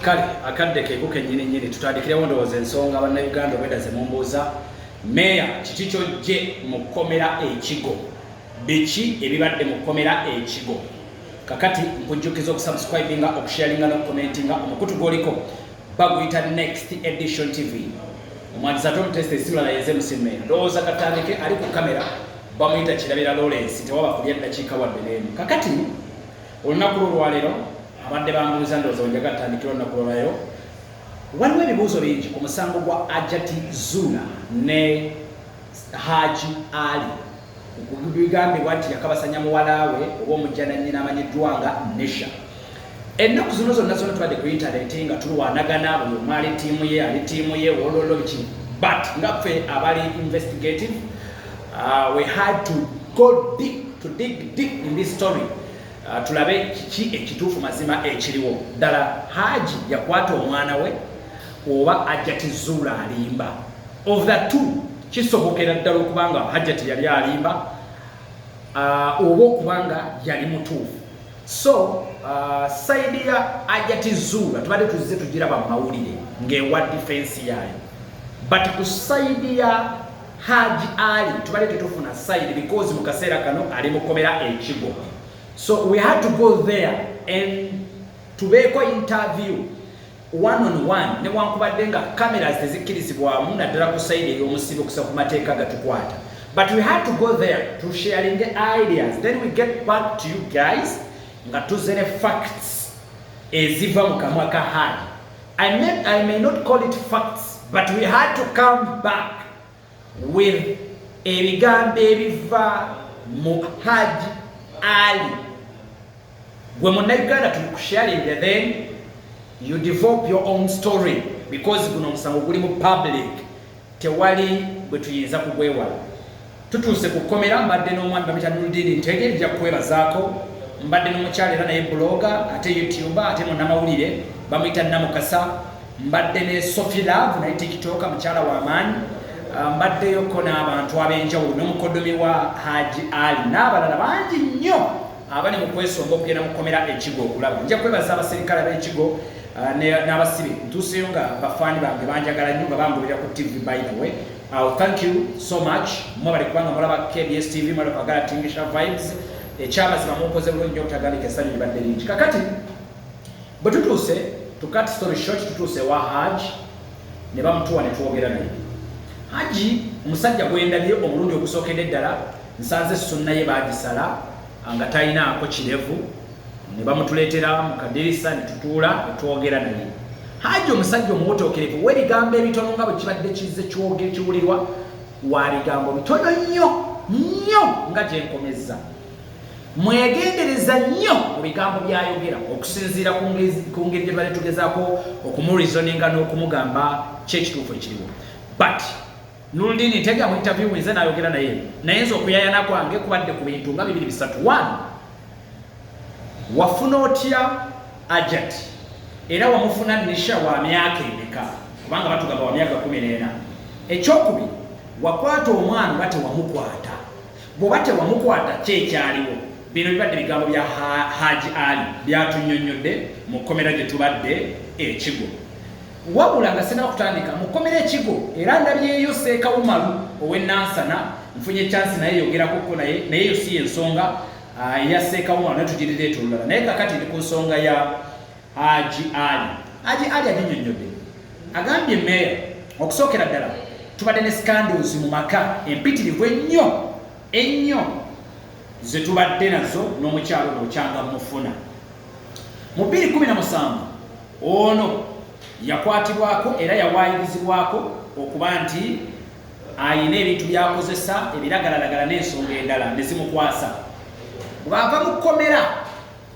kale akadde keeko kenyini nyini tutandikirewo ndowooza ensonga bannayuganda obweda zemumbuuza meeya kiki kyojje mu kkomera ekigo biki ebibadde mu kkomera ekigo kakati nkujjukiza okusubscribinga okusharinga nokukomentinga omukutu gwoliko baguyita next edition tv omwandizi ate omutesta esiwulala yenze musimme ndowooza katandike ali ku kamera bamuyita kirabira lawrence tewaba kulya ddakiika wadde n'emu kakati olunaku lwo olwaleero abadde bambuuza ndowooza wenjaga atandikira olunaku lwolwaleero waliwo ebibuuzo bingi ku musango gwa ajati zuna ne haji ali Bigambibwa nti yakabasanya muwala we oba omujjanannyina amanyiddwa nga Nisha. Ennaku zino zonna zona tubadde ku yintaneti nga tulwanagana buli omu ali ttiimu ye ali ttiimu ye wololo biki but nga ffe abali investigative uh, we had to go deep to dig deep in this story uh, tulabe kiki ekituufu mazima ekiriwo ddala haji yakwata omwana we oba ajati zuula alimba of the two kisobokera ddala okubanga hajati yali alimba uh, oba okubanga yali mutuufu so uh, saidi ya ajati zuula tubadde tuzze tugiraba mumawulire ngaewa difensi yaayo but ku saidi ya haji ali tubadde tetufuna saidi because mu kaseera kano ali mukomera ekigo so we had to go there and tubeeko interview one on one newankubadde nga cameras tezikkirizibwamu naddala ku sayidi ey'omusiibi okusa ku mateeka gatukwata but we had to go there to sharing the ideas then we get back to you guys nga tuze ne facts eziva mu kamwa ka hard I may, I may not call it facts but we had to come back with ebigambo ebiva mu Haji Ali gwe munnayuganda tukusharinge then you develop your own story because guno omusango guli mu public tewali bwe tuyinza kugwewala tutuuse ku kkomera mbadde n'omwami bamita nuldiini ntege nja kukwebazaako mbadde n'omukyalo era naye buloga ate youtuba ate munamawulire bamuyita namukasa Mbadde ne Sophie Love naye tikitoka mukyala wa maanyi ah, mbaddeyoko n'abantu ab'enjawulo n'omukodomi wa Haji Ali n'abalala bangi nnyo abali mu kwesonga okugenda mu kkomera ekigo okulaba nja kwebaza abaserikale ab'ekigo ah, n'abasibe ntuuseyo nga bafaani bange banjagala nnyo nga bangulira ku tv by the way I'll thank you so much mwebale kubanga mulaba KBS TV mwebale kwagala tingisha vibes ekyamazima mukoze bulungi nyo obutagandika essanyu libadde lingi kakati Bwe tutuuse to cut story short, tutuuse ewa Haji ne bamutuwa ne twogera naye. Haji omusajja gwe ndabye omulundi ogusookedde ddala nsanze sunna ye baagisala nga talinaako kirevu ne bamutuleetera mu kadirisa ne tutuula ne twogera naye. Haji omusajja omuwotookerevu w'ebigambo ebitono nga bwe kibadde kizze kyoge kiwulirwa wa bigambo bitono nnyo nnyo nga gye nkomezza. mwegendereza nnyo mu bigambo by'ayogera okusinziira ku ngeri gye bali tugezaako okumureasoninga n'okumugamba ki ekituufu ekiriwo but nuludini ntega mu interview nze nayogera naye naye nze okuyayana kwange kubadde ku bintu nga bibiri bisatu one wafuna otya ajat era wamufuna nisha wa myaka emeka kubanga batugamba wa myaka kumi n'ena ekyokubiri wakwata omwana oba tewamukwata Bwoba tewamukwata ki ekyaliwo? Bino bibadde bigambo bya Haji Ali byatunyonyodde mu kkomera gye tubadde e Kigo. Wabula nga sinaba kutandika mu kkomera e Kigo era ndabyeyo Seeka Umaru ow'e Nansana nfunye kyansi naye yogerako ko naye naye eyo si y'ensonga ah, eya Seeka Umaru naye tugirireta olulala naye kakati ndi ku nsonga ya Haji Ali Haji Ali aginyonnyodde agambye meeya okusookera ddala tubadde ne scandals mu maka empitirivu ennyo ennyo ze tubadde nazo n'omukyalo ono okyanga mufuna mu 217 ono yakwatibwako era yawaayirizibwako okuba nti ayina ebintu byakozesa ebiragalalagala n'ensonga endala ne zimukwasa bw'ava mu kkomera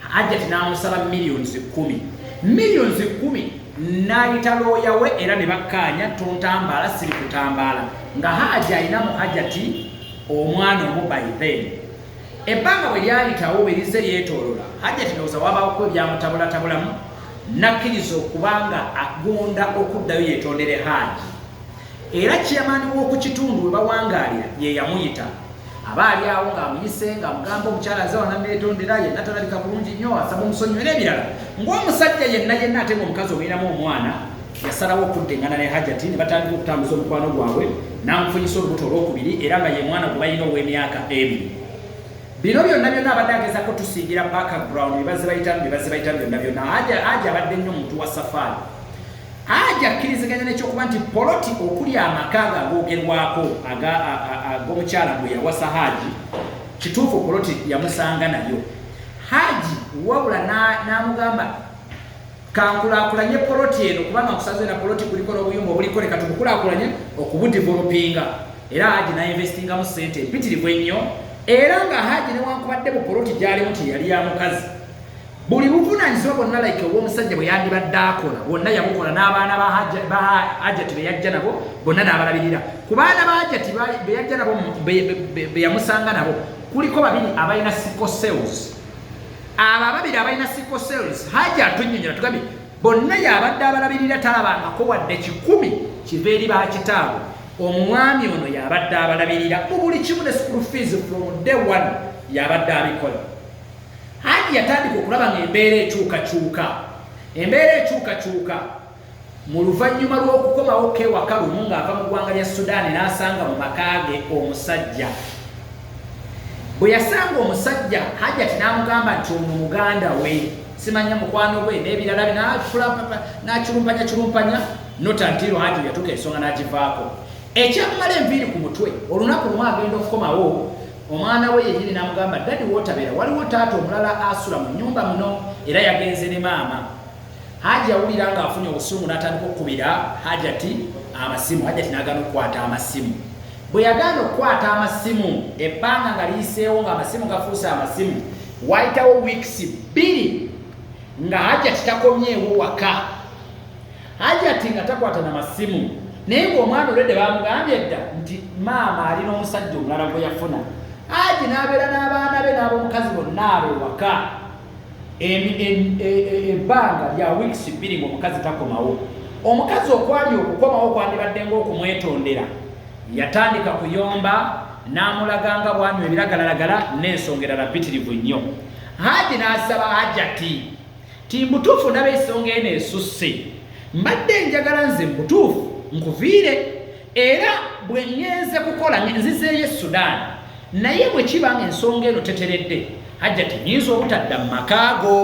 Hajjati n'amusaba millions kumi millions kumi n'ayita looya we era ne bakkaanya tontambaala siri kutambaala nga Hajji alina mu Hajjati omwana omu by then ebbanga bwe lyayitawo bwe lize lyetoolola Hajjati ndowooza wabaawoko ebyamutabulatabulamu nakkiriza okubanga agunda okuddayo yetondere Hajji era chairman w'oku kitundu we bawangaalira ye yamuyita aba ali awo ng'amuyise ng'amugamba omukyala nze wana neetondera yenna talabika bulungi nnyo asaba omusonyiwa era ebirala ng'omusajja yenna yenna ate ng'omukazi obeeramu omwana yasalawo okudda engana ne hajati ne batandika okutambuza omukwano gwabwe n'amufunyisa olubuto olwokubiri era nga ye mwana gwe balina ow'emyaka ebiri bino byonna byonna abadde agezako tusingira background bye bazze bayitamu bye bazze bayitamu byonna byonna aja abadde nnyo muntu wa safaari Haji akkiriziganya n'ekyokuba nti poloti okuli amaka ago agoogerwako ag'omukyala gwe yawasa Haji, kituufu poloti yamusanga nayo Haji wabula n'amugamba kankulaakulanye poloti eno kubanga nkusaze na poloti kuliko n'obuyumba obuliko leka tubukulaakulanye okubudivolopinga era Haji n'ainvestingamu ssente empitirivu ennyo era nga Haji newankubadde mu poloti gyalimu teyali ya mukazi buli buvunaanyizibwa bwonna like obw'omusajja bwe yandibadde akola bwonna yabukola n'abaana ba hajati be yajja nabo bonna n'abalabirira ku baana ba hajati be yajja nabo be yamusanga nabo kuliko babiri abalina sico sales abo ababiri abalina sico sales haja atunyonyola tugambye bonna yabadde abalabirira talabangako wadde kikumi kiva eri bakitaabwe omwami ono yabadde abalabirira mu buli kimu ne school fees from day one yabadde abikola Hajji yatandika okulaba nga embeera ekyukakyuka embeera ekyukakyuka mu luvannyuma lw'okukomawo kewaka lumu ng'ava mu ggwanga lya sudaani n'asanga mu makaage omusajja bwe yasanga omusajja hajjati n'amugamba nti ono muganda we simanya mukwano gwe n'ebirala binafula n'akirumpanyakirumpanya notantiiro hajji yatuuka ensonga n'agivaako Ekyakumala enviiri ku mutwe, olunaku lumu agenda okukomawo, omwana we yennyini n'amugamba, Ddadi w'otabeera waliwo taata omulala asula mu nnyumba muno era yagenze ne maama. Haji yawulira ng'afunye obusungu n'atandika okukubira Hajati amasimu. Hajati n'agaana okukwata amasimu. Bwe yagaana okukwata amasimu, ebbanga nga liyiseewo ng'amasimu gafuuse amasimu, waayitawo wiikisi bbiri nga Hajati takomyewo waka. hajati nga takwata na masimu naye ngaomwana olwedde bamugambye dda nti maama ali n'omusajja omulala gwe yafuna aji n'abeera n'abaana be n'abomukazi bonna abo ewaka e, e, e, ebbanga lya wiks bbiri ngaomukazi takomawo omukazi okwali okukomawo kwandibadde ngaokumwetondera yatandika kuyomba n'amulaga nga bwanywa ebiragalalagala n'ensonga erala bitirivu nnyo haji n'asaba hajati Ti mbutuufu ndaba esonga eno esusse mbadde njagala nze mbutuufu nkuviire era bwe ngenze kukola nzizeeyo e sudan naye bwe kiba nga ensonga eno teteredde hajja tinyinza obutadda mu makaago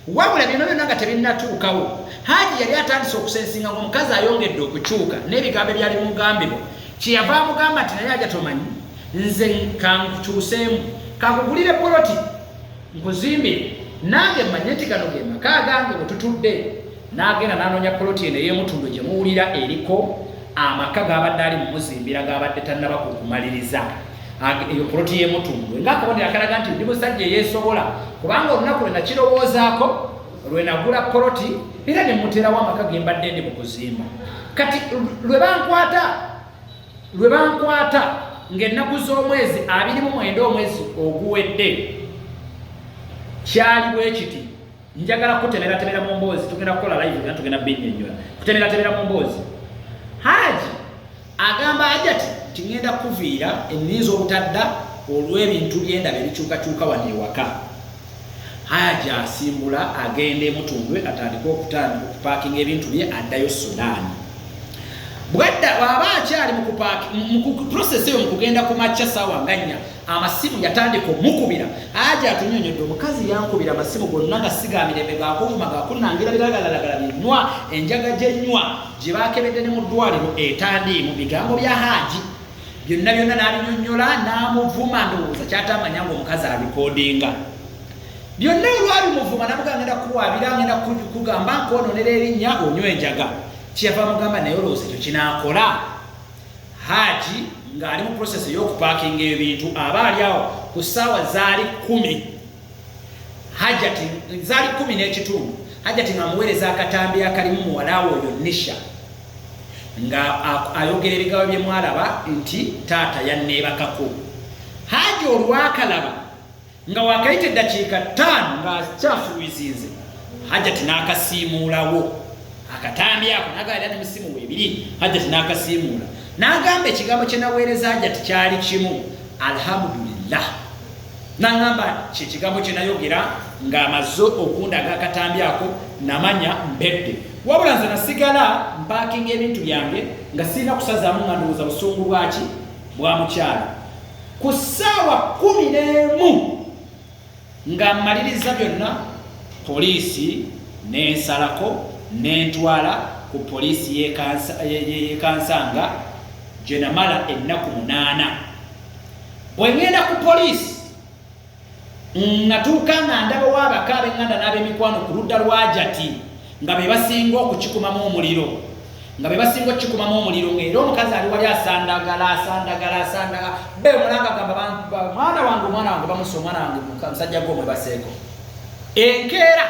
wabula byona byona nga tebinnatuukawo haji yali atandise okusensinga nga omukazi ayongedde okukyuka n'ebigambo ebyali mugambibwa kyeyava amugamba nti naye aja tomanyi nze kankukyuseemu kakugulire poloti nkuzimbire nange manye nti gano ge maka agange bwe tutudde n'agenda n'anoonya poloti eno ey'emutundwe gye muwulira eriko amaka g'abadde ali mu muzimbira g'abadde tannaba ku kumaliriza eyo poloti y'emutundwe ng'akabonero akalaga nti ndi musajja eyeesobola kubanga olunaku lwe nakirowoozaako lwe nagula poloti era ne mmuteerawo amaka ge mbadde ndi mu kuzimba kati lwe bankwata lwe bankwata ng'ennaku z'omwezi abiri mu mwenda omwezi oguwedde kyali bwe kiti njagala kutemeratemera mu mboozi tugenda kukola live gana tugenda binnyonnyola kutemeratemera mu mboozi haaji agamba ajati ti ŋŋenda kuviira enninza obutadda olw'ebintu byendaba ebikyukakyuka wano ewaka Haji asimbula agenda emutundwe atandika okutandika okupaakinga ebintu bye addayo Sudan. Bwadda bw'aba akyali mu process eyo mu kugenda ku makya saawa nga nnya amasimu yatandika omukubira aja atunyonyodde omukazi yankubira amasimu gonna nga sigamirembe gakuvuma gakunangira biragalalagala binywa enjaga gyenywa gye bakebedde ne mu ddwaliro etandiimu bigambo bya haaji byonna byonna n'abinyonnyola n'amuvuma ndowooza kyataamanya nga omukazi alikodinga byonna olwabimuvuma namuga ngenda kuwaabira ngenda kugamba nkwononera erinnya onywa enjaga kyeyava mugamba naye olowooza ekyo kinaakola haaji ng'ali mu prosesi ey'okupaakinga ebintu aba ali awo ku ssaawa zaali kumi hajati zali kumi n'ekitundu hajati nga muweereza akatambi akalimu muwalawo oyo nisha nga ayogera ebigawa bye mwalaba nti taata yanneebakako haji olwakalaba nga wakayita eddakiika ttaano ng'akyafuluizinze hajati n'akasiimuulawo akatambi ako nagaera ne musimu webiri hajati n'akasiimuula n'agamba ekigambo kye naweereza hajati kyali kimu alhamdulillah N'aŋŋamba nti, Kye kigambo kye nayogera ng'amaze okundaga akatambi ako, namanya mbedde. Wabula nze nasigala mpaakinga ebintu byange nga sirina kusazaamu nga ndowooza busungu bwa ki bwa mukyala. Ku ssaawa kkumi n'emu nga mmaliriza byonna, poliisi n'ensalako n'entwala ku poliisi y'e Kansanga gye namala ennaku munaana. bwe ŋŋenda ku poliisi natuuka nga ndabawo abaka ab'eŋŋanda n'ab'emikwano ku ludda lwajati nga be basinga okukikumamu omuliro nga be basinga okukikumamu omuliro ng'era omukazi ali wali asandagala asandagala asandaga be mulanga gamba mwana wange omwana wange bamusa omwana wange musajja gwe omwebaseeko enkeera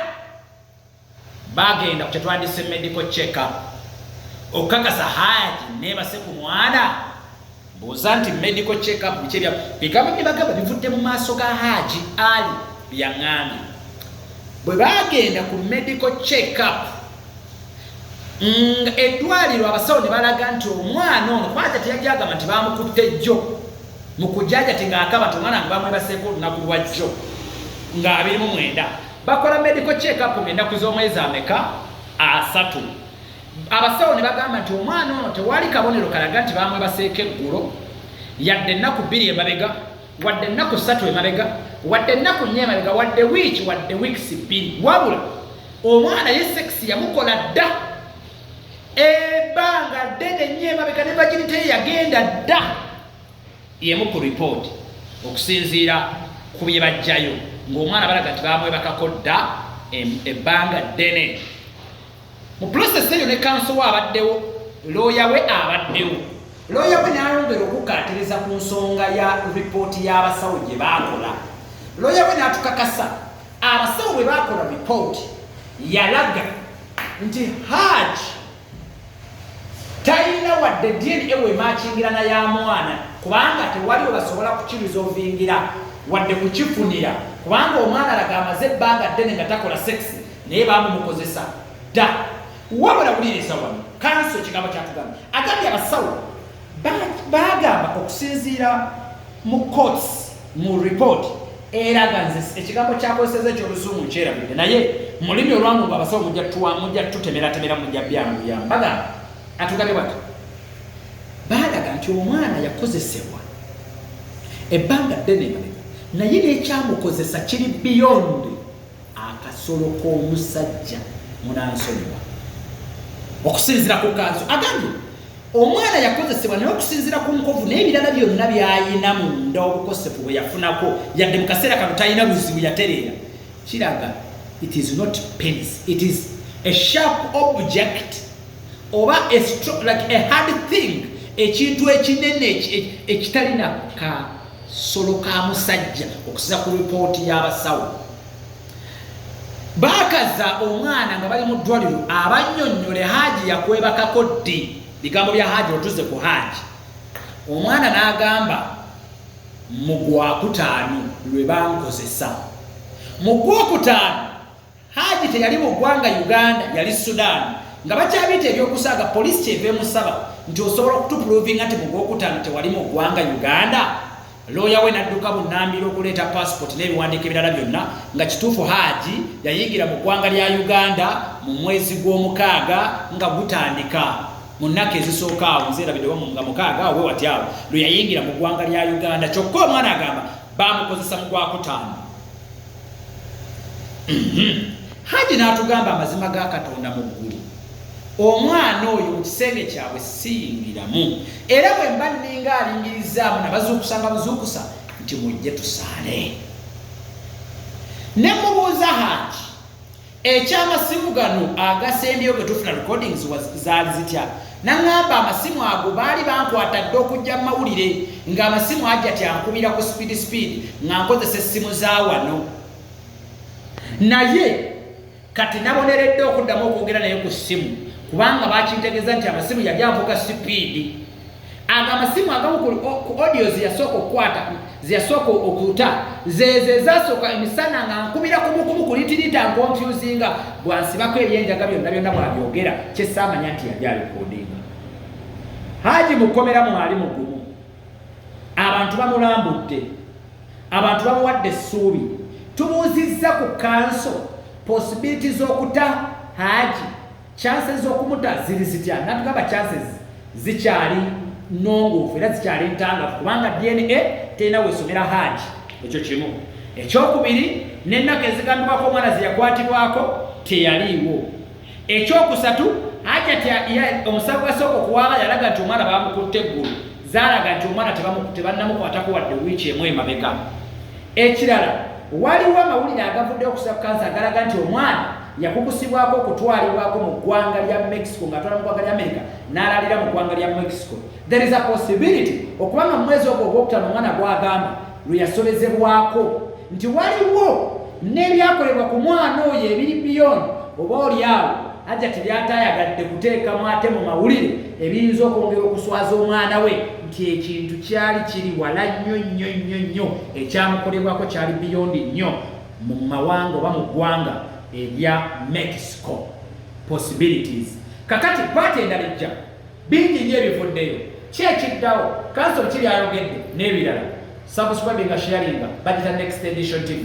Baagenda ku kye twandise medical check up okukakasa haaji neebase ku mwana buuza nti medical check up biki ebya bigambo bye bagamba bivudde mu maaso ga haaji ali byaŋŋambye bwe baagenda ku medical check up nga eddwaliro abasawo ne balaga nti omwana ono kubaaja teyajagamba nti baamukutte jjo mu kujaja ti ng'akaba nti omwana nga bamwebaseeko olunaku lwa jjo ng'abirimu mwenda bakola medical check up ng'ennaku z'omwezi ameka asatu abasawo ne bagamba nti omwana ono tewali kabonero kalaga nti bamwebaseeko eggulo yadde ennaku bbiri emabega wadde ennaku ssatu emabega wadde ennaku nnya emabega wadde wiiki wadde wiikisi bbiri wabula omwana ye sekisi yamukola dda ebbanga ddene nnyo emabega ne vaginiteye yagenda dda Y'emu ku lipooti okusinziira ku bye baggyayo ng'omwana balaga nti baamwebakako dda ebbanga ddene. Mu pulosesi eyo ne kanso we abaddewo, looya we abaddewo. Looya we n'ayongera okukkaatiriza ku nsonga ya lipooti y'abasawo gye baakola. Looya we n'atukakasa abasawo bwe baakola lipooti yalaga nti Hajj talina wadde dna wemaakingirana ya mwana kubanga tewali webasobola kukirizovingira wadde kukifunira kubanga omwana alaga amaze ebbanga ddene nga takola sekisi naye bamumukozesa dda wabula wuliriza wano kanso ekigambo kyatugamba agambye abasawo bagamba okusinziira mu courts mu report eraga nze ekigambo kyakozeseza ekyoluzungu nkyerabidde naye mulimi olwangu nga abasawo mujja tuwa mujja tutemeratemera mujja byamuyamba bagamba atugabye bati baalaga nti omwana yakozesebwa ebbanga ddene emabega naye nekyamukozesa kiri beyond akasolo k'omusajja munansonyiwa okusinzira ku kanso agambye Omwana yakozesebwa naye okusinzira ku nkovu n'ebirala byonna by'alina munda obukosefu bwe yafunako yadde mu kaseera kano talina buzibu yatereera kiraga it is not penis it is a sharp object oba a stroke, like a hard thing ekintu ekinene ekitalina kasolo ka musajja okusiza ku ripooti y'abasawo Baakaza omwana nga bali mu ddwaliro abannyonnyole Haji yakwebakako ddi? Bigambo bya Haji otuze ku Haji. Omwana n'agamba mu gwakutaano lwe bankozesa. Mu gwokutaano Haji teyali mu ggwanga Uganda yali Sudan nga bakyabiyita ebyokusaaga poliisi kyeva emusaba nti osobola okutupulovinga nti mu gwokutaano tewali mu ggwanga Uganda looya we n'adduka bunnambiro okuleeta paasipoti n'ebiwandiiko ebirala byonna nga kituufu haaji yayingira mu ggwanga lya uganda mu mwezi gw'omukaaga nga gutandika mu nnaku ezisooka awo nzeerabidde wamu nga mukaaga awo wewati awo lwe yayingira mu ggwanga lya uganda kyokka omwana agamba baamukozesa mu gwakutaano haji n'atugamba amazima ga katonda mu ggulu omwana oyo mu kisenge kyabwe siyingiramu era bwe mba nninga alingirizzaamu nabazuukusa nga buzuukusa nti mujje tusaale ne mubuuza haji Eky'amasimu gano agasembyeyo ge tufuna recordings was zaali zitya? Nang'amba amasimu ago baali bankwata dda okujja mu mawulire ng'amasimu aja tyankubira ku speed speed nga nkozesa essimu za wano. Naye kati naboneredde okuddamu okwogera naye ku ssimu kubanga bakintegeeza nti amasimu yali anvuga sipiidi. ago amasimu agamu ku audio zeyasooka okukwata zeyasooka okuta zeezo ezasooka emisana nga nkubira kumukumu ku litirita nkonfyuzinga bwansibako ebyenjaga byonna byonna bwabyogera kyesaamanya nti yali alikodinga haji mukomera mwali mugumu abantu bamulambudde abantu bamuwadde essuubi tubuuzizza ku kanso posibiliti z'okuta haji Chances z'okumuta ziri zitya? Natugamba chances zikyali nnongoofu era zikyali ntangavu kubanga DNA terina wesomera Haji. Ekyo kimu. Ekyokubiri, n'ennaku ezigambibwako omwana ze yakwatibwako teyaliiwo. Ekyokusatu, Hajati omusawo gwasooka okuwaaba yalaga nti omwana baamukutte eggulu zaalaga nti omwana tebannamukwatako wadde wiiki emu emabega. Ekirala, waliwo amawulire agavuddeyo ku Sub-Cancer agalaga nti omwana yakukusibwako okutwalibwako mu ggwanga lya Mexico ng'atwala mu ggwanga lya Amerika n'alaalira mu ggwanga lya Mexico. There is a possibility okuba nga mu mwezi ogwo ogwokutaano omwana gw'agamba lwe yasobezebwako nti waliwo n'ebyakolebwa ku mwana oyo ebiri biyoni oba oli awo ajja tebyaatayagadde kuteekamu ate mu mawulire ebiyinza okwongera okuswaza omwana we nti ekintu kyali kiri wala nnyo nnyo nnyo nnyo ekyamukolebwako kyali biyondi nnyo mu mawanga oba mu ggwanga erya mexico possibilities kakati paati endala ejja bingi nnyo ebivuddeyo ki ekiddawo kansol ki byayogedde n'ebirala subscribinga sharinga bagita next edition tv